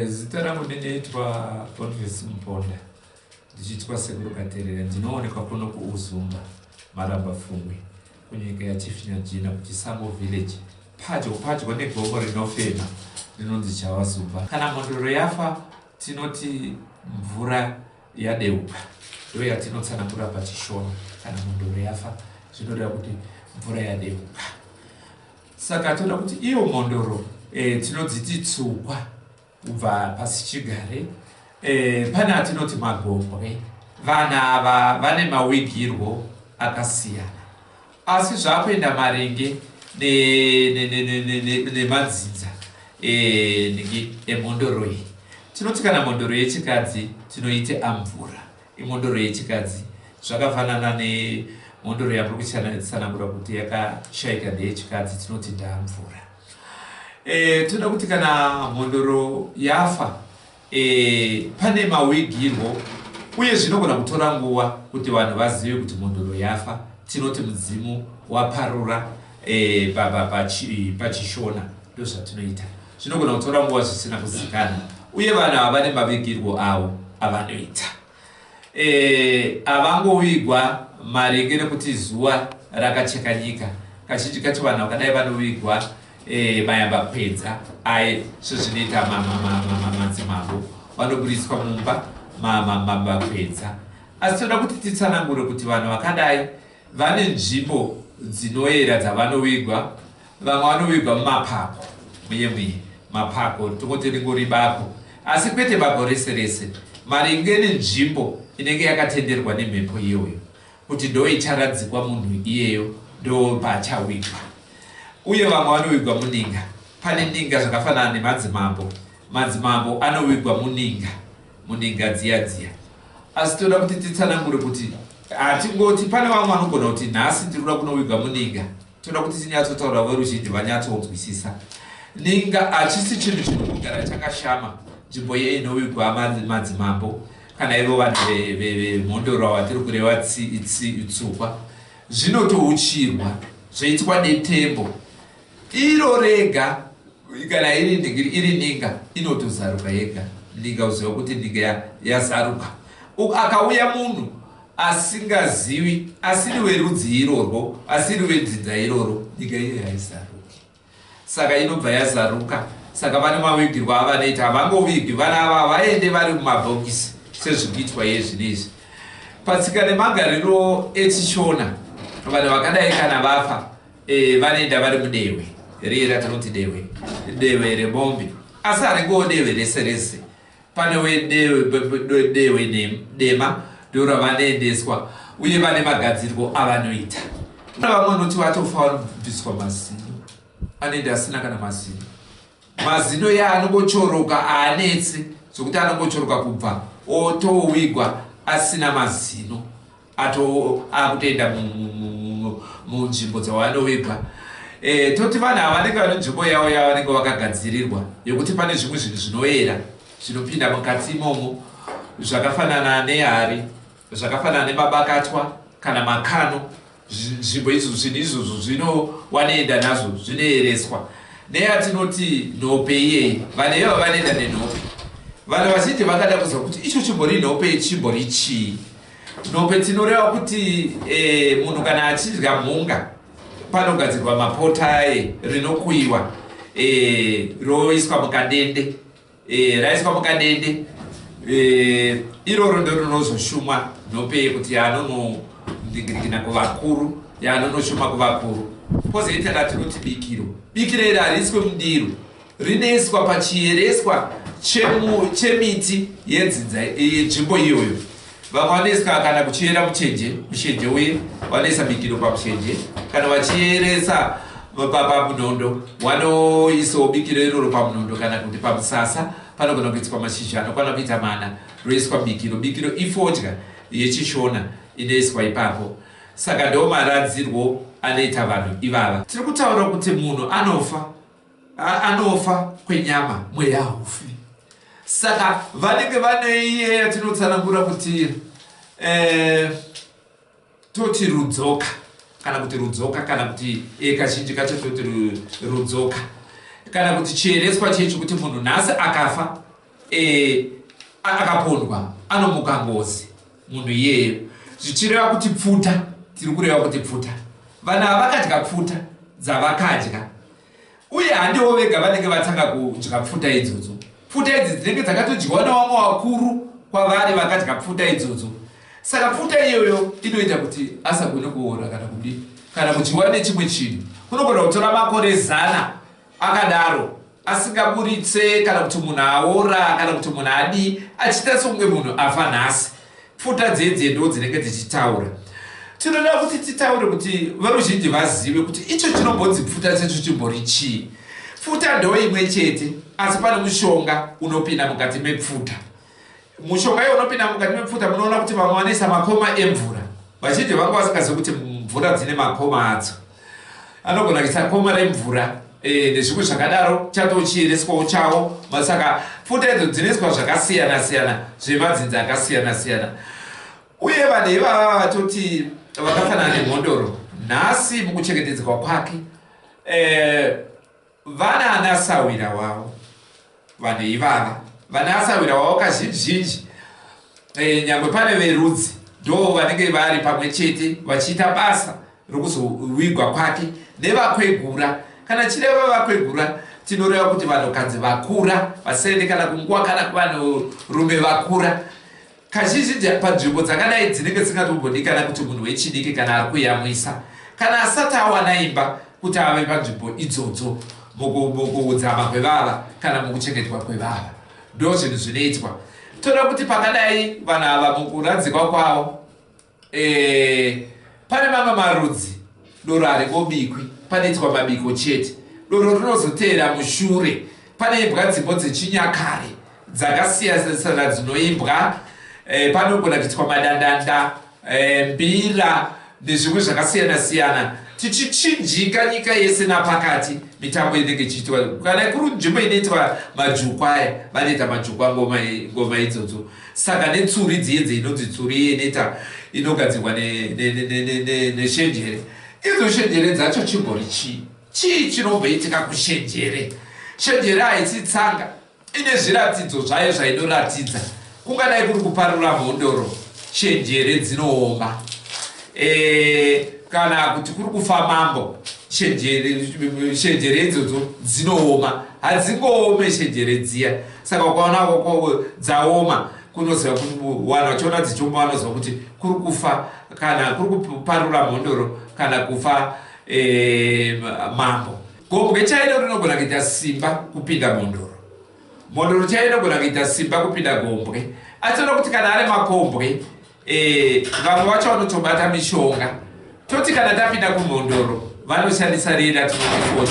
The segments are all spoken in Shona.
Zita rangu ndinoitwa Boniface Muponda ndichiitwa Sekuru Katerera ndinoonekwa kuno kuUzumba Maramba Fumwe kunyika yaChifinyajina kuChisango Village padyo padyo negomo rinofema rinonzi Chawazumba kana mhondoro yafa tinoti mvura yadeuka ndo yatinotsanangura pachishona kana mhondoro yafa zvinoreva kuti mvura yadeuka Saka toda kuti iyo mhondoro e, tinodziti tsukwa kubva pasi chigare e, pane atinoti magombwe. Vana ava vane mawigirwo akasiyana, asi zvakuenda maringe nemadzinza e, emhondoro iyi. Tinoti kana mhondoro yechikadzi tinoite amvura Imhondoro yechikadzi zvakafanana nemhondoro yamuri kutsanangura kuti yakashaika ndeyechikadzi tinoti ndamvura. E, toda kuti kana mhondoro yafa e, pane mawigirwo uye zvinogona kutora nguva kuti vanhu vazive kuti mhondoro yafa tinoti mudzimu waparura e, pachishona ndozvatinoita Zvinogona kutora nguva zvisina kuzikana uye vanhu ava vane mavigirwo avo avanoita. E, avangovigwa maringe nekuti zuva rakacheka nyika. Kazhinji kacho vanhu vakadai vanovigwa e, mayamba kwedza aye sezvinoita madzimambo vanoburitswa mumba mamamba kwedza. Asi toda kuti titsanangure kuti vanhu vakadai vane nzvimbo dzinoyera dzavanovigwa Vamwe vanovigwa mumapako muye muye. Mapako tongoti ringori bako asi kwete bako rese rese maringe nenzvimbo inenge yakatenderwa nemhepo iyoyo kuti ndoicharadzikwa munhu iyeyo ndopaachawigwa. Uye vamwe vanowigwa muninga. Pane ninga zvakafanana nemadzimambo. Madzimambo anowigwa muninga, muninga dziya dziya. Asi toda kuti titsanangure kuti hatingoti pane vamwe vanogona kuti nhasi tiri kuda kunowigwa muninga. Tinoda kuti tinyatsotaura veruzhinji vanyatsonzwisisa. Ninga hachisi chinhu chiri kugara chakashama nzvimbo iye inovigwa madzimambo kana ivo vanhu vemhondoro vatiri kureva tsukwa zvinotouchirwa zvoitwa detembo iro rega kana iri ningiri iri ninga inotozaruka yega ninga uziva kuti ninga yazaruka akauya munhu asingazivi asiri verudzii irorwo, asiri vedzinza iroro, nyika iyoyo haizaruki. Saka inobva yazaruka. Saka vane mavigirwo avanoita, havangovigi vana ava, havaende vari mumabhokisi sezviri kuitwa iye zvino izvi. Patsika nemagariro echiShona, vanhu vakadai kana vafa e, vanoenda vari mudehwe riye ratinoti dehwe, dehwe remombe, asi haringowo dehwe rese rese Pane wedehwe dema ndiro ravanoendeswa uye vane magadzirwo avanoita. Pane vamwe vanoti vatofa vanobviswa mazino anoenda asina kana mazino. Mazino iye anongochoroka haanetse zvokuti anongochoroka kubva otowigwa asina mazino. ato akutoenda munzvimbo dzawanoviga e, toti vanhu ava vanenge vane nzvimbo yavo yavanenge vakagadzirirwa yekuti pane zvimwe zvinhu zvinoyera zvinopinda mukati imomo zvakafanana nehari zvakafanana nemabakatwa kana makano nzvimbo izvo zvinhu izvozvo zvinowanoenda nazvo zvinoyereswa neyatinoti nhope iyeyi vanhu ivo vanoenda nenhope vanhu vazhinji vangada kuziva kuti icho chimbori nhope chimbori chii Dope tinoreva kuti eh, munhu kana achidya mhunga panogadzirwa mapota aye rinokuyiwa eh, roiswa mukadende eh, raiswa mukadende eh, iroro ndo rinozoshumwa nopeye kuti anonondingirikina kuvakuru yanonoshuma kuvakuru kozoitaka tinoti bikiro bikiro iri hariiswe mundiro rinoiswa pachiyereswa chemiti yedzinza yenzvimbo iyoyo vamwe vanoisa kana kuchiyera muchenje mushenje uye vanoisa mikiro pamushenje kana vachiyeresa pamunhondo wanoisawo bikiro iroro pamunhondo kana kuti pamusasa panogona kuitwa mashizha anokwana kuita mana roiswa bikiro bikiro ifodya yechishona inoiswa ipapo saka ndo maradzirwo anoita vanhu ivava tiri kutaura kuti munhu anofa anofa kwenyama mweya haufi saka vanenge vane iye yatinotsanangura kuti eh, toti rudzoka kana kuti rudzoka kana kuti eh, kazhinji kacho toti rudzoka kana kuti chiereswa chii chekuti munhu nhasi akafa eh, akapondwa anomuka ngozi munhu iyeyo zvichireva kuti pfuta tiri kureva kuti pfuta vanhu havakadya pfuta dzavakadya uye handiwo vega vanenge vatanga kudya pfuta idzodzo pfuta idzi dzinenge dzakatodyiwa nevamwe vakuru kwavari vakadya pfuta idzodzo saka pfuta iyoyo inoita kuti asagone kuora kana kudi kana kudyiwa nechimwe chinhu kunogona kutora makore zana Akadaro asingaburitse kana kuti munhu aora kana kuti munhu adii achiita sekunge munhu afa nhasi pfuta dzedze ndo dzinenge dzichitaura tinoda kuti titaure kuti veruzhinji vazive kuti icho chinombonzi pfuta checho chimbori chii pfuta ndo imwe chete asi pane mushonga unopinda mukati mepfuta Mushonga iye unopinda mukati mepfuta munoona kuti vamwe vanoisa makoma emvura. Vazhinji vanga vasingazivi kuti mvura dzine makoma adzo. Anogona kuisa koma remvura eh, nezvimwe zvakadaro chatochiereswawo chawo masaka pfuta idzo dzinoiswa zvakasiyana siyana zvemadzinzi akasiyana siyana uye vanhu ivava vatoti vakafanana nemhondoro nhasi mukuchengetedzwa kwake eh, Vana ana sahwira wavo vanhu ivava vana asahwira wavo kazhinji zhinji eh, nyangwe pane verudzi ndo vanenge vari pamwe chete vachiita basa rokuzovigwa kwake nevakwegura kana chireva vakwegura tinoreva kuti vanhukadzi vakura vasaende kana kunguva kana kuvanhurume vakura Kazhinji-zhinji panzvimbo dzakadai dzinenge dzisingatombodikana kuti munhu wechidiki kana ari kuyamwisa kana asati awana imba kuti ave panzvimbo idzodzo mukuudzama kwevava kana mukuchengetwa kwevava. Ndozvinhu zvinoitwa. Toda kuti pakadai vanhu ava mukuradzikwa kwavo. Eh, pane mamwe marudzi doro haribobikwi panoitwa mabiko chete doro rinozoteera mushure paneimbwa dzimbo dzechinyakare dzakasiyanisana dzinoimbwa e, panogona kuitwa madandanda e, mbira nezvimwe zvakasiyana siyana tichichinjika nyika yese napakati mitambo inenge ichiitwa kana kuri nzvimbo inoitwa majukwaya vanoita majukwangoma idzodzo Saka netsuri dziye dzinonzi tsuri yeneta inogadzirwa neshenjere, idzo shenjere dzacho chimbori chii? Chii chinomboitika kushenjere? Shenjere haisi tsanga, ine zviratidzo zvayo zvainoratidza. Kungadai kuri kuparura mhondoro, shenjere dzinooma. Eh, kana kuti kuri kufa mambo, shenjere idzodzo dzinooma. Hadzingoome shenjere dziya. Saka ukaona kokovo dzaoma kunoziva kuwana vachiona dzichiomba vanoziva kuti kuri kufa kana kuri kuparura mhondoro kana kufa eh, mambo gombwe chairo rinogona kuita simba kupinda mhondoro mhondoro chairo inogona kuita simba kupinda gombwe atinoda kuti kana ari makombwe Eh, vamwe vacho vanotobata mishonga toti kana tapinda kumhondoro vanoshandisa riye ratinofoni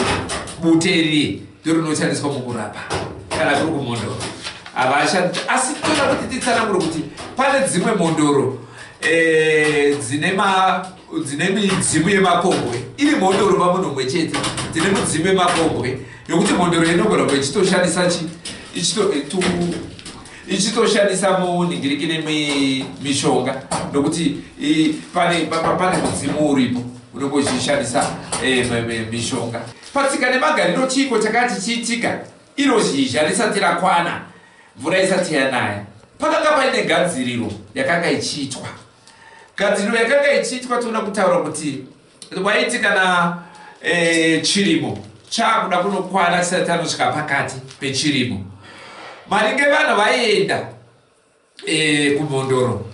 bute riye ndorinoshandiswa mukurapa kana kuri kumhondoro havashandi asi toda kuti titsanangure kuti pane dzimwe mhondoro eh, dzine ma dzine midzimu yemakombwe iri mhondoro vamunomwe chete dzine mudzimu yemakombwe yokuti mhondoro inogona kuva ichitoshandisa chi ichito eh, ichitoshandisa munhingiriki nemishonga nokuti pane pane mudzimu uripo unenge uchishandisa eh, mishonga patsika nemagariro chiiko chakanga chichiitika iro zhizha risati rakwana mvura isati yanaya pakanga paine gadziriro yakanga ichiitwa gadziriro yakanga ichiitwa toona kutaura kuti Waiti kana e, chirimo chakuda kunokwana chisati chanosvika pakati pechirimo maringe vanhu vaienda e, kumhondoro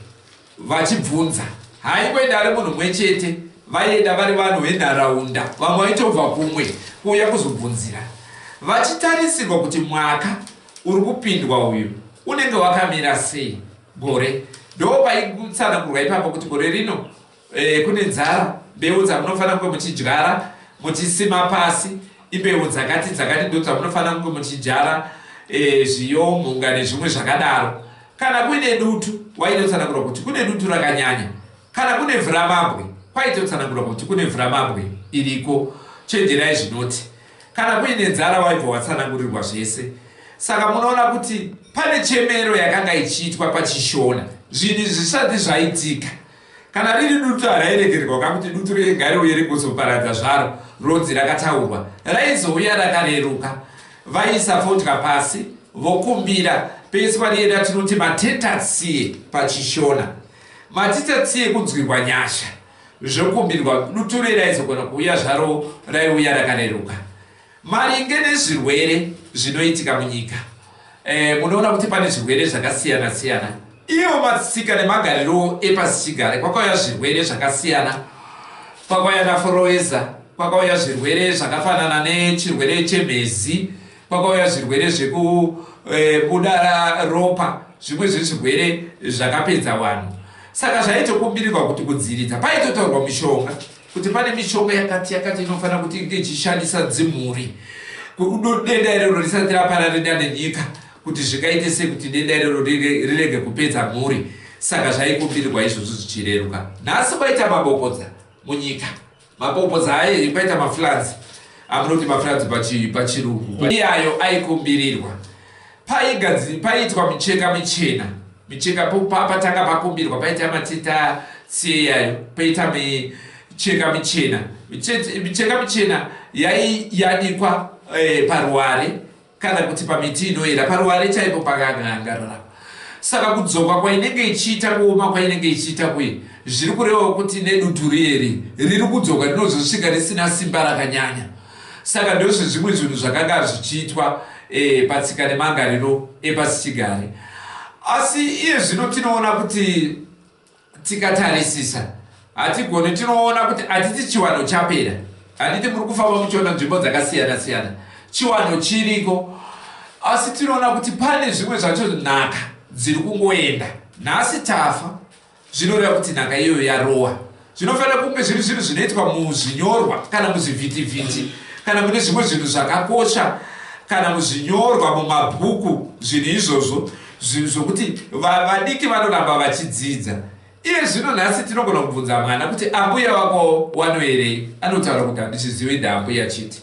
vachibvunza haingoenda ari munhu mwe chete vaienda vari vanhu venharaunda vamwe vaitobva kumwe kuuya kuzobvunzira vachitarisirwa kuti mwaka uri kupindwa uyu unenge wakamira sei gore ndo paitsanangurwa ipapo kuti gore rino Eh, kune nzara mbeu dzamunofanira kunge muchidyara muchisima pasi imbeu dzakati dzakati ndo dzamunofanira kunge muchidyara eh, zviyo mhunga nezvimwe zvakadaro kana kuine dutu waitotsanangura kuti kune dutu rakanyanya kana kune vhuramabwe kwaitotsanangura kuti kune vhuramabwe iriko chenjerai zvinoti kana kuine nzara waibva watsanangurirwa zvese saka munoona kuti pane chemero yakanga ichiitwa pachishona zvinhu zvisati zvaitika Kana riri dutu harairegererwa ka kuti dutu riye gare uye rigozoparadza zvaro ronzi rakataurwa. Raizouya rakareruka. Vaiisa fodya pasi vokumbira peiswa riye ratinoti matetatsie paChishona. Matetatsie kunzwirwa nyasha zvokumbirwa. Dutu riye raizogona kuuya zvaro raiuya rakareruka. Maringe nezvirwere zvinoitika munyika, eh, munoona kuti pane zvirwere zvakasiyana siyana. Ivo matsika nemagariro epasichigare kwakauya zvirwere zvakasiyana, kwakauya naforoeza, kwakauya zvirwere zvakafanana nechirwere chemhezi, kwakauya zvirwere zvekubuda eh, ropa, zvimwe zvezvirwere zvakapedza vanhu. Saka zvaitokumbirirwa kuti kudziviridza paitotaurwa mishonga Kuti pane mishonga yakati yakati inofanira kuti inge ichishandisa dzimhuri kudo denda irero risati rapararira nenyika kuti zvingaite sei kuti denda irero rirege kupedza mhuri saka zvaikumbirwa izvozvo zvichireruka nhasi kwaita mabopodza munyika mabopodza aye kwaita maflanzi amunoti maflanzi pachirungu iyayo aikumbirirwa Paigadziri paiitwa micheka michena micheka patanga pakumbirwa paita matita seyayo paita micheka michena micheka michena yaiyanikwa eh, paruware kana kuti pamiti inoera paruware chaipo pakangangarara saka kudzoka kwainenge ichiita kuoma kwainenge ichiita kuye zviri kurevawo kuti neduturieri riri kudzoka rinozosvika risina simba rakanyanya Saka ndozvezvimwe zvinhu zvakanga zvichiitwa patsika nemangariro epasichigare. Asi iye zvino tinoona kuti tikatarisisa hatigoni, tinoona kuti hatiti chiwano chapera. Handiti muri kufamba muchiona nzvimbo dzakasiyana siyana, chiwano chiriko, asi tinoona kuti pane zvimwe zvacho nhaka dziri kungoenda. Nhasi tafa. Zvinoreva kuti nhaka iyoyo yarowa. Zvinofanira kunge zviri zvinhu zvinoitwa muzvinyorwa kana muzvivhitivhiti kana mune zvimwe zvinhu zvakakosha kana muzvinyorwa mumabhuku zvinhu izvozvo zvinhu zvokuti vadiki vanoramba vachidzidza iye zvino nhasi tinogona kubvunza mwana kuti ambuya vako wanoerei anotaura kuti handichizivi ndaambuya chiti